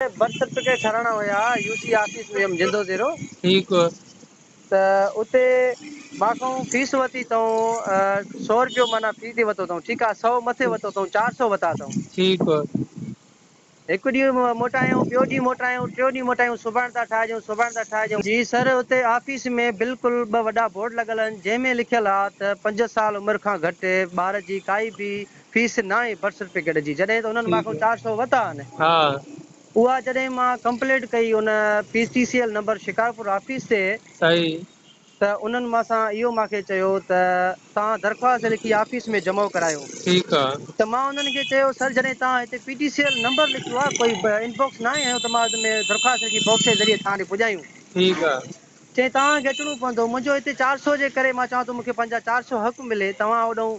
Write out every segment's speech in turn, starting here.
ته birth certificate ٺاراهڻا هيا يو سي آفيس ۾ جندو زيرو ٺيڪ ته اتي مان کان فيس وتي اٿئون سو رپيو معنيٰ في تي وتو اٿئون ٺيڪ آ سو مٿي وتو اٿئون چار سو وتا اٿئون ٺيڪ هڪ ڏينهن موٽايائون ٻيو ڏينهن موٽايائون ٽيون ڏينهن موٽايائون سڀاڻ ٿا ٺاهجون سڀاڻ ٿا ٺاهجون. جي سر اتي آفيس ۾ بلڪل ٻه وڏا بورڊ لڳل آهن جنهن ۾ لکيل آ ته پنج سال عمر کان گهٽ ٻار جي ڪائي به فيس ناهي برٿ سرٽيفڪيٽ جي جڏهن ته انهن مان کان چار سؤ وتا آهن اها جڏهن مان ڪمپلينٽ ڪئي ان P C C L number Shikarpur office تي ته انهن مان سان اهو مان کي چيو ته توهان درخواست لکي آفيس ۾ جمع ڪرايو ته مان انهن کي چيو سر جڏهن توهان هتي P T C L number لکيو آهي ڪوئي ان باڪس ناهي هنيو ته مان ان ۾ درخواست لکي باڪس جي ذريعي توهان ڏي پڄايون چيائين توهان کي اچڻو پوندو منهنجو هتي چار سؤ جي ڪري مان چوان ٿو مون کي پنهنجا چار سؤ حق ملي توهان اوڏانهن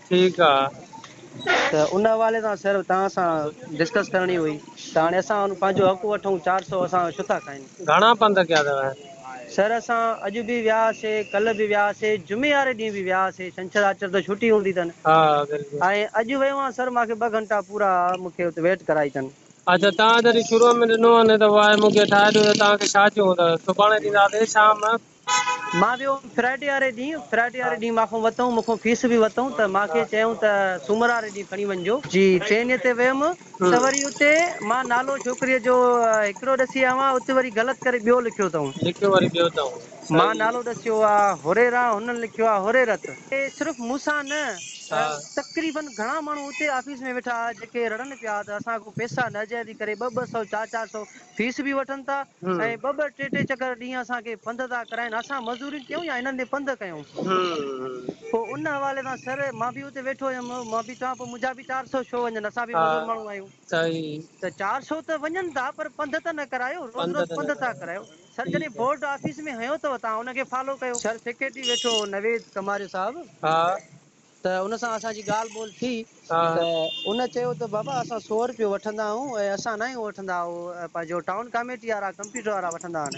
ٺيڪ آ. ته ان حوالي سان سر توهان سان ڊسڪس ڪرڻي هئي ته هاڻي اسان ان پنهنجو حق وٺون چار سؤ اسان جو ڇوٿا کائين. گهڻا پنڌ ڪيا اٿو؟ سر اسان اڄ به ويا هاسي ڪلهه به ويا هاسي جمعي واري ڏينهن به ويا هاسي ڇنڇر آچر ته ڇوٽي هوندي تن ها بلڪل. ۽ اڄ ويو هان سر مان کي ٻه گهنٽا پورا مون کي اتي ويٽ ڪرائي تن. اچا توهان جڏهن شروع ۾ ڏنو هان ته واء مون کي ٺاهي ڏيو ته توهان کي ڇا چيو هون ته سڀاڻي ڏينداسي شام مان ويو هوم فرائيڊي واري ڏينهن، فرائيڊي واري ڏينهن مان کان وتئون، مون کان فيس به وتئون ته مان کي چيائون ته سومر واري ڏينهن کڻي وڃجو. جي ٽرينيء تي ويم ته وري اتي مان نالو ڇوڪريء جو هڪڙو ڏسي آيو آهيان، اتي وري غلط ڪري ٻيو لکيو اٿئون. لکيو وري ٻيو اٿئون. مان نالو ڏسيو آ هريرا، هنن لکيو آ هريرت. صرف مون سان نه تقريبن گهڻا ماڻهو اتي آفيس ۾ ويٺا هئا، جيڪي رڙن پيا ته اسان کان پئسا ناجائزي ڪري ٻه ٻه سئو، چار چار سئو فيس به وٺن ٿا ۽ ٻه ٻه ٽي ٽي چڪر ڏينهن اسان کي پنڌ ٿا ڪرائين اسان مزوري ڪيون يا هنن ڏي پنڌ ڪيون پوء ان حوالي سان سر مان به اتي ويٺو هيم مان به چوان پيو منهنجا به چار سو ڇو وڃن اسان به مزور ماڻهو آهيون ته چار سو ته وڃن ٿا پر پنڌ ته نه ڪرايو روز روز پنڌ ٿا ڪرايو سر جڏهن بورڊ آفيس ۾ هنيو اٿو توهان ان کي فالو ڪيو. سر سيڪريٽري ويٺو هو نويد ڪماري صاحب. ته ان سان اسان جي ڳالهه ٻولهه ٿي ته ان چيو ته بابا اسان سؤ روپيو وٺندا آهيون ۽ اسان ناهيون وٺندا اهو جو ٽائون ڪاميٽي وارا ڪمپيوٽر وارا وٺندا آهن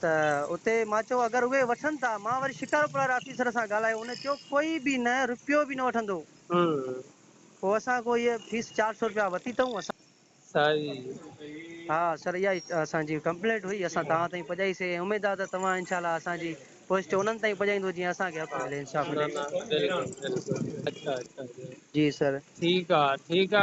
ته اتي مان چيو اگر اهي وٺن ٿا مان وري شڪارپور واري آفيسر سان ڳالهايو ان چيو ڪوئي به نه روپيو به نه وٺندو پوء اسان ڪو هيء فيس چار سؤ روپيا ورتي اٿئون اسان سائين ها سر اها ئي اسان جي ڪمپلينٽ هئي اسان توهان تائين پڄائي سي ۽ اميد آ ته توهان انشاء الله اسان جي پوسٽ انهن تائين پڄائيندو جيئن اسان کي حق ملي انصاف ملي جي سر ٺيڪ آ ٺيڪ آ